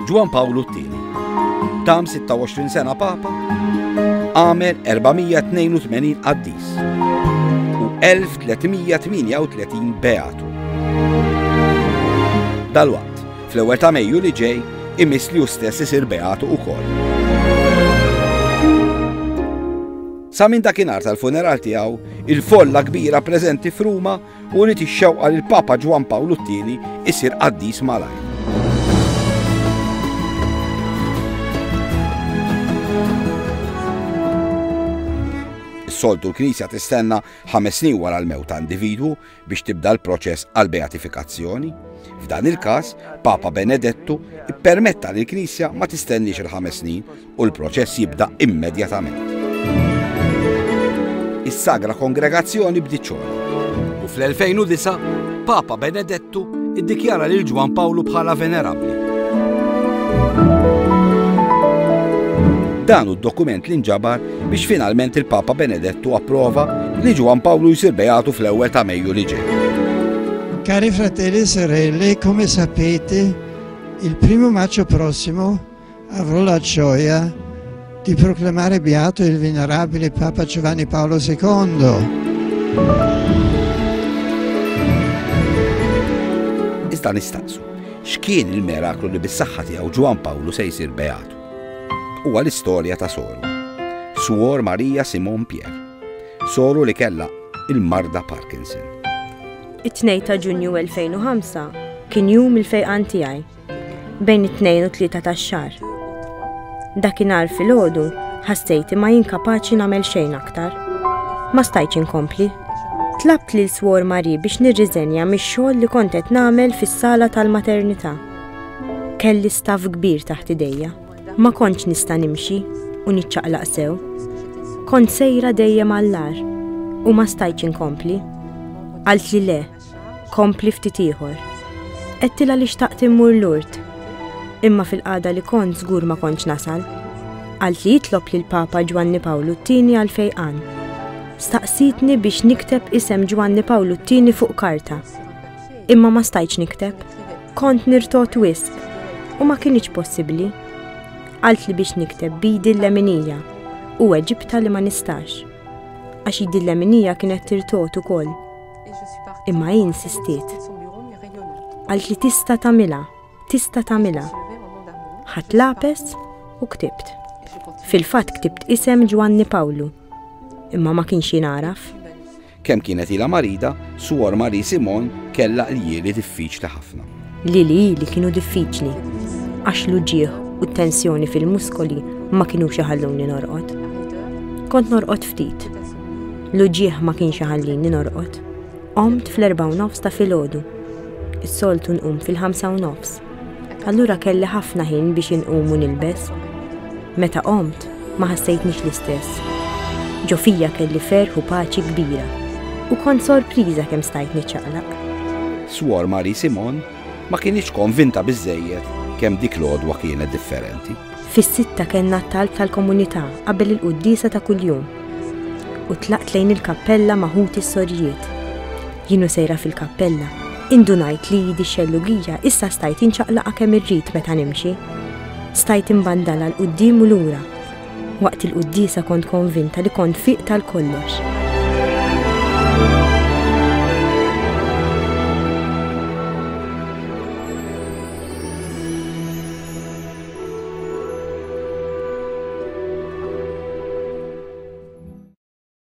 Ġwan Pawlu t-tieni. Tam 26 sena papa, għamel 482 qaddis u 1338 beatu. Dalwaqt, fl-ewwel ta' Mejju li ġej, imis li stess isir beatu ukoll. Sa minn dakinhar tal-funeral tiegħu, il-folla kbira preżenti f'Ruma u uriet ix-xewqa li l-Papa Ġwann Pawlu t-Tieni isir qaddis malajr. soltu l-Knisja tistenna ħames snin wara l-mewt ta' individwu biex tibda l-proċess għal beatifikazzjoni. F'dan il-każ, Papa Benedettu ippermetta li l-Knisja ma tistenniex il-ħames snin u l-proċess jibda immedjatament. Is-Sagra Kongregazzjoni bdiet xogħol. U fl-2009, Papa Benedettu iddikjara lil Ġwan Pawlu bħala venerabbli. Dan hu d-dokument li nġabar biex finalment il-Papa Benedettu approva li Ġwan Pawlu jsir beatu fl-ewwel ta' Mejju li ġej. Cari fratelli e sorelle, come sapete, il primo maggio prossimo Avrò la gioia di proclamare beato il venerabile Papa Giovanni Paolo II. Iżda nistaqsu, x'kien il-miraklu li bis-saħħa tiegħu Ġwan Pawlu se jsir beatu? Huwa l-istorja ta' soru. Suor Marija Simon Pier. Soru li kellha il-marda Parkinson. It-2 ta' Ġunju 2005 kien jum il-fejqan tiegħi bejn it-tnejn u tlieta tax-xahar. Dakinhar filgħodu ħassejti ma jinkapaċi nagħmel xejn aktar. Ma stajtx inkompli. Tlabt lil swor Mari biex nirriżenja mix-xogħol li kont qed nagħmel fis-sala tal-maternità. Kelli staff kbir taħt idejja. Ma kontx nista' nimxi u niċċaqlaq sew. Kont sejra dejjem għall-ar u ma stajtx inkompli. Għalt li le, Kompli ftit ieħor. Qedtilha li xtaqt immur l-urt. Imma fil-qada li kont żgur ma kontx nasal. Għalt li jitlob lil Papa Ġwanni Pawlu t-tieni għal fejqan. Staqsitni biex nikteb isem Ġwanni Pawlu t-tieni fuq karta. Imma ma stajċ nikteb. Kont nirtot wisq u ma kienx possibbli. Għalt li biex nikteb bidi l-leminija u Eġipta li ma nistax. Għax id-leminija kienet tirtot ukoll. Imma hi insistiet. Qalt li tista' tagħmilha, tista' tagħmilha. Ħadd lapes u ktibt. Fil-fatt ktibt isem Ġwanni Pawlu, imma ma kienx jingħaraf. Kemm kienet ilha marida, Suor Marie Simon kellha qlieli diffiċli ħafna. li li li kienu diffiċli għax l-uġieħ u t-tensjoni fil-muskoli ma kienu xaħalluni norqot. Kont norqot ftit. L-uġieħ ma kienx xaħallini norqot. Omt fl-erba u nofs ta' fil-ħodu. Is-soltu nqum fil-ħamsa u nofs. Allura kelli ħafna ħin biex inqum u nilbes. Meta omt, ma ħassejtnix l-istess. Ġo fija kelli ferħ u paċi kbira u kont sorpriża kemm stajt niċċaqlaq. Swor Marie Simon ma kienx konvinta biżejjed kemm dik l-għodwa kienet differenti. Fis-sitta kellna t-talb tal-komunità qabel il-quddisa ta' kuljum u tlaqt lejn il-kappella maħut is-sorjiet. Jienu sejra fil-kappella, indunajt li jidi xellugija issa stajt inċaqlaqa kemm irrid meta nimxi. Stajt imbandala l-qudiem u lura. Waqt il-quddiesa kont konvinta li kont fiq tal-kollox.